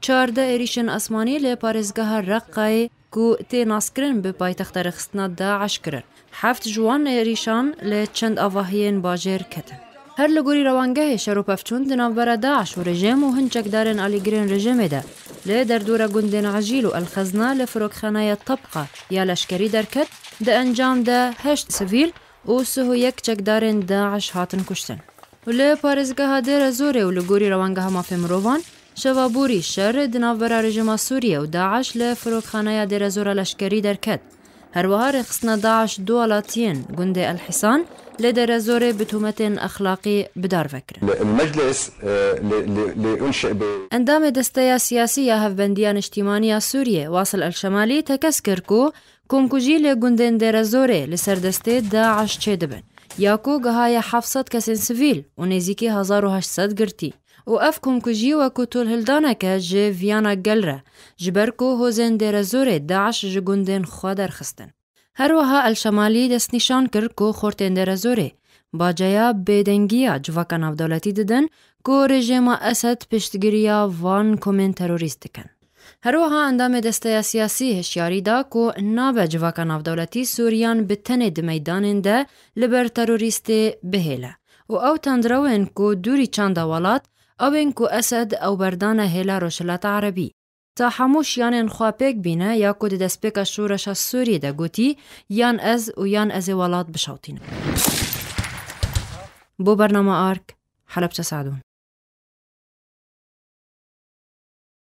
Çardeh êrîşên esmanî li parêzgeha Reqqayê ku tê naskirin bi paytexta rêxistina DAIŞ kirin. Heft ji wan êrîşan li çend avahiyên bajêr ketin. Her li gorî rewangehê şer û pevçûn di navbera DAIŞ û rejim û hin çekdarên alîgirên rejimê de li derdora gundên Ejîl û El Xezna li firokxaneya Tabqa ya leşkerî derket, di encam de heşt sivîl û sih û yek çekdarên DAIŞ hatin kuştin. Li parêzgeha Dêrezorê û li gorî rewangeha mafê mirovan Şeva borî, şer di navbera rejîma Sûriyê û DAIŞ li Firokxaneya Dêrezora Leşkerî derket. Herwiha rêxistina DAIŞ du alatiyên gundê El Hîsan lê Dêrezorê bi tohmetên exlaqî bi dar ve kirin. Endamê desteya siyasî ya Hevbendiya Niştîmanî ya Sûriyê Wasil El Şemalî tekez kir ku komkujî lê gundên Dêrezorê li ser destê DAIŞ çêdibin ya ku gihaye heft sed kesên sivîl û nêzîkî hezar û heşt sed girtî Û ev komkujî wekû tolhildanek e ji viyana gel re, ji ber ku hozên Dêrezorê DAIŞ ji gundên xwe derxistin. Her wiha Elşemalî destnîşan kir ku xortên Dêrezorê, baceya bêdengiya civaka navdewletî didin ku rejêma Esed piştgiriya van komên terorîst dikin. Herwiha endamê desteya siyasî hişyarî da ku nabe civaka navdewletî Sûriyan bi tenê di meydanên de li ber terorîstê bihêle û ew tendrewên ku dûrî çanda welat ewên ku Esed ew berdane hêla Rojhilata Erebî. Ta hemû şiyanên xwe pêk bîne ya ku di destpêka şoreşa Sûriyê de gotî yan ez û yan ez ê welat bişewtînim. Bo bernama ark, Helebçe Seedûn.